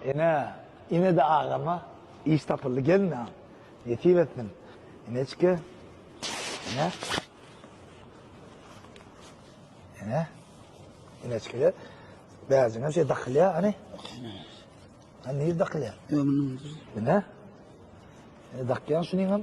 Ene, ine-de agama iş tapyldy, gelnaň, nesip etsin. Eneçke, ene, ene, eneçkede bäjigem şeý dakylýar, hany? Hany nir dakylýar? Ýöne, ene, ene dakýan şunyňam.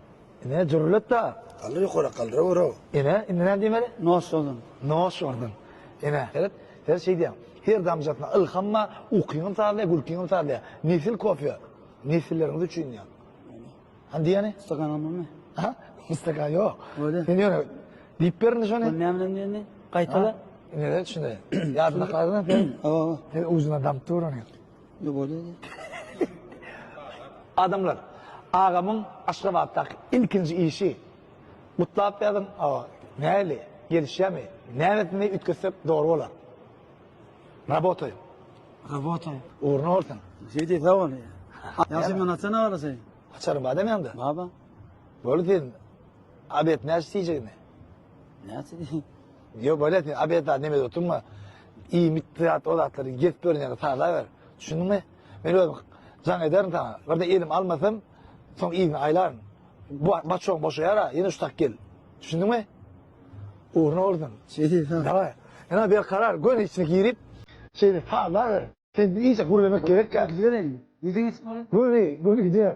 Ine jürletda. Galdyr ýokara galdyra görä. Ine indi näme diýmeli? Nos urdun. Nos urdun. Ine seret. Sen şeý diýýäň. Her damjasyna ylham bar, ukyňam sazlaýar, gülkiňem sazlaýar. Nesil kofe. Nesilleriňiz üçin diýýäň. Hany diýýäni? Stakan almalymy? Ha? Stakan ýok. Öýle. Sen ýöne diýip ber indi şony. Bu näme bilen diýeni? Gaýtala. Ine şunday. Ýadyňda galdymy sen? Hawa. Sen ujuna damp dur ony. Adamlar, agamyň Aşgabatdaky ilkinji işi. Gutlap ýazyň, hawa. Nähili, gelişýärmi? Näresini üýtgetsek dogry bolar? Rabotaýyň. Rabotaýyň. Ugruny bolsun. Jedi sag bol. Ýagşy men açan agasy. Açaryň bar dämi ýaňda? Bar bar. Boldy sen. Abet näçe diýjegini? Näçe diýjegini? Ýok bolesni abeta neme oturma. İmit zat o zatları gep görünýär sala ber. Düşündüňmi? Men özüm jan ederim sana. Bir de elim almasam soň izni aylaryn. Bu başoň boşaýar ha, ýene şu tak gel. Düşündüňmi? Ugruna bolsun. Şeýdi ha. Daway. Ýa bir karar gön içine girip şeýle sala ber. Sen iyice gürlemek gerek ya. Gidelim. Gidin. Gürle, gürle gidiyor.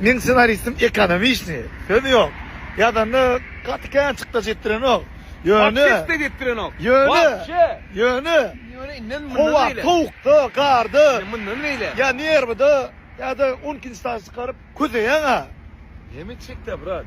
Meň ssenaristim ekonomiçni, söz ýok. Ýazanda gaty kän çykdajy etdirenok. Ýöne. Gaty çykdajy etdirenok. Ýöne. Ýöne. Ýöne inden mundan beýle. Howa sowukda, garda. Inden mundan beýle. Ýa nerwida, ýa-da on ikinji sany çykaryp közeýäň-ä. Näme etjek-dä brat?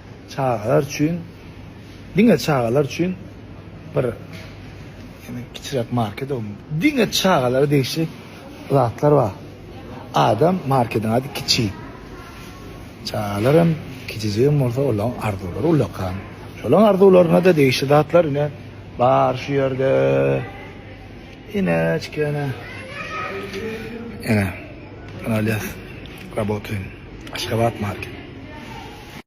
Çagalar üçin, diňe çagalar üçin bir ýene kiçiräk market o. Diňe çagalara degişli zatlar bar. Adam marketiň ady kiçi. Çagalar hem kiçijik hem bolsa olaň arzuwlary ullakan. Şolaň arzuwlaryna-da degişli zatlar ine bar şu ýerde. Inäçkene. Ene. Alýas. Rabotuýin. Aşgabat market.